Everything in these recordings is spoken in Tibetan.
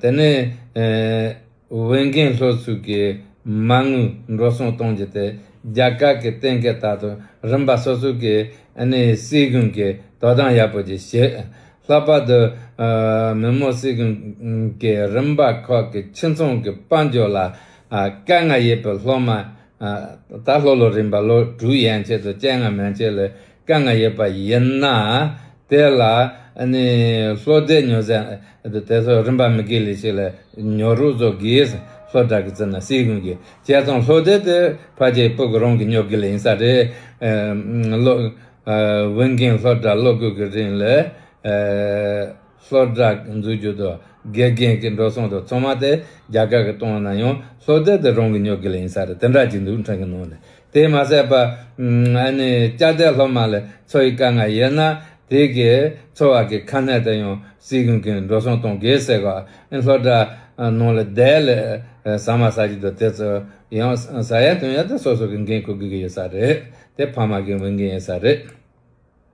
དེ་ནི་འོས་འགན་ལྷོད་བཙུགས་ཀྱིས་མ་དངུལ་འགྲོ་སོང་གཏོང་རྒྱུ་དེ་རྒྱ་གར་གྱི་གཏན་འཁེལ་ལྟར་དུ་རིམ་པ་སོ་སོ་གི་སྲིད་གཞུང་གིས་དོ་དམ་ཡག་པོ་བྱེད་ཤེས། ལྷག་པར་དུ་མི་མང་སྲིད་གཞུང་གི་རིམ་པ་ཁག་གི་ཁྱིམ་ཚང་གི་དཔལ་འབྱོར་ལ་དཀའ་ངལ་ཡོད་པའི་སློབ་མ། ད་ལྷོ་ལོ་རིམ་པ་ལོ་དྲུག་ཡན་ཆད་དུ་སྤྱན་སྔ་མན་ཆད་ལས་སྐལ་ལྔ་ཡོད་པ་ཡིན་ན། དེ་ལ་ལྷོ་སྡེ་ཉོ་ཟེར་ན། དེ་ཚོ་རིམ་པ་མི་དགེ་ལས་ཤིག་ལ་ཉོ་རུག་ཚོ་དགེས་ལྷོ་བྲག་གི་རྩེ་ན་སྲིད་གཡུང་གི་རྒྱལ་ཚོང་ལྷོ་སྡེ་དེ་ཕ་རྗེས་སྤུག་གི་རོང་གི་ཉོ་དགེ་ལས་ཡིན་ས་རེད། བུན་རྒན་ལྷོ་བྲག་ལོ་དགུ་གི་རིང་ལ་ལྷོ་བྲག་འཛུགས་རྒྱུ་དོ་དགེ་རྒན་གི་འགྲོ་སོང་དུ་ཚོང་མ་དེ་རྒྱ་གར་གི་གཏོང་ན་ཡང་ལྷོ་སྡེ་དེ་རོང་གི་ཉོ་དགེ་ལས་ཡིན་ས་རེད་དེ་འདྲ་གྱི་འདུག་འཕྲང་གི་ནང་ལ་དེས་མ་ཟད་པ། སྐྱ་ཐལ་སློབ་མ་ལས་འཚོ་ཡི་དཀའ་ངལ་ཡོད་ན། དེ་གས་འཚོ་བ་གི་ཁ་སྣེ་དེ་ཡང་སྲིད་གཞུང་གིས་འགྲོ་སོང་གཏོང་དགོས་ཟེར་ག་ཨེ་ལྷོ་དྲ་ནང་ལ་དལ་ལས་ཟ་མ་ཟ་གི་འདུག་དེ་ཚོ་ཡང་ཟ་ཡ་འཐུང་ཡ་དེ་སོ་སོ་གི་འགན་ཁུར་དགོས་ཀྱི་ཡོད་ས་རེད་དེ་ཕ་མ་གི་འོས་འགན་ཡིན་ས་རེད།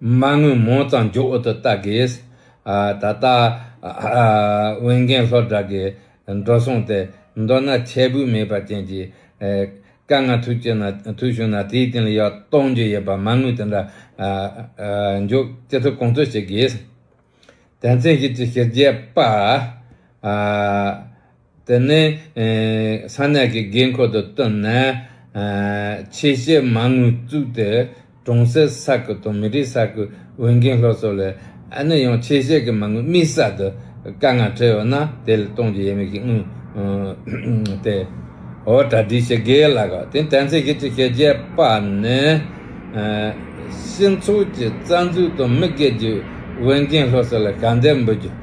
མ་དངུལ་མང་ཙམ་མགྱོགས་འོག་ཏུ་བལྟ་དགོས། ད་ལྟ། འོས་འགན་ལྷོད་དྲགས་ཀྱི་འགྲོ་སོང་སྟེ། མདོར་ན་ཁྱད་འབུས་མེད་པ་ཅན་གྱི། དཀའ་ངལ་ཐུག་བྱུང་ན་དེའི་སྟེང་ལ་ཡག་གཏོང་རྒྱུ་ཡོད་པ་མ་དངུལ་དེ་འདྲ། མགྱོགས་ཅི་ཐུབ་གོང་འཕེལ་བྱེད་དགོས། དོན་ཚན་བཞི་བཅུ་བཞི་བརྒྱད་པ། དེ་ནས་ས་གནས་ཀྱི་དགོས་མཁོ་དང་བསྟུན་ནས། ཆེད་བཤད་མ་དངུལ་བཙུགས་ཏེ་གྲོང་གསེབ་ས་ཁུལ་དང་མི་རིགས་ས་ཁུལ་འོས་འགན་སློབ་གསོ་ལས་ཨ་ནེ་ཡང་ཆེད་བཤད་ཀྱི་མ་དངུལ་དམིགས་བསལ་དུ་དཀའ་ངལ་འཕྲད་ཡོད་ན་དེ་ལས་གཏོང་རྒྱུ་ཡིན་མིན་གྱི་དངུལ་དེ་འོ་གྲ་སྒྲིག་བྱེད་དགོས་ལ། དེ་ནས་དན་ཚིག་ཤེས་བྱའི་ཤེས་བྱའི་པ་ནི། སྤྱི་ཚོགས་ཀྱི་རྩ་འཛུགས་དང་མི་སྒེར་གྱི་འོས་འགན་སློབ་གསོ་ལ་ཞབས་འདེགས་འབུལ་རྒྱུ།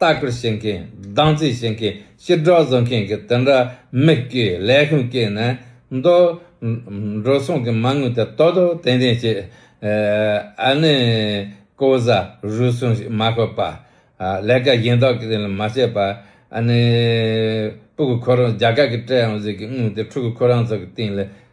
ལྟ་སྐུལ་བྱེད་མཁན་སྡང་རྩིས་བྱེད་མཁན་ཕྱིར་སྒྲོག་བཟོ་མཁན་གྱི་དེ་འདྲ་མིག་གིས་ལས་ཁུངས་བསྐྱེལ་ནས་འདུག། འགྲོ་སོང་གི་མ་དངུལ་དེ་ལྟོ་ལྟོ་ལྡན་ལྡན་བྱས། ཨ་ནི་ཀོ་བཟའ་རུལ་སུངས་ཤིག་མ་བཀོད་པ། ལས་ཀ་གཞན་དག་གི་ལས་མ་བྱས་པ། ཨ་ནི་སྤུ་གུ་ཁོ་རང་རྒྱ་གར་གྱི་སྤྲད་ཡང་གཟིགས་ཀྱི་དངུལ་དེ་ཕྲུ་གུ་ཁོ་རང་ཚོ་གི་སྟེང་ལས་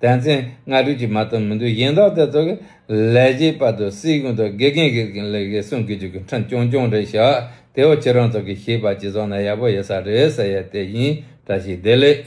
དེ་ཚེ་སྔ་དྲོའི་ཀྱི་མ་དང་མི་འདུག་གཞན་དག་དེ་ཚོ་གི་ལས་བྱེད་པ་དུ་སི་གུང་དང་དགེ་རྒན་གི་གི་ལས་གི་སྲུང་གི་རྒྱུ་གི་འཕྲིན་ཀྱོང་ཀྱོང་རེ་བཞག་དེ་བ་ཁྱེད་རང་ཚོ་གི་ཤེས་པ་གཅིག་ཚང་ན་ཡག་པོ་ཡོད་ས་རེད་ཟེར་ཡས་དེ་བཞིན་བཀྲ་ཤིས་བདེ་ལེགས།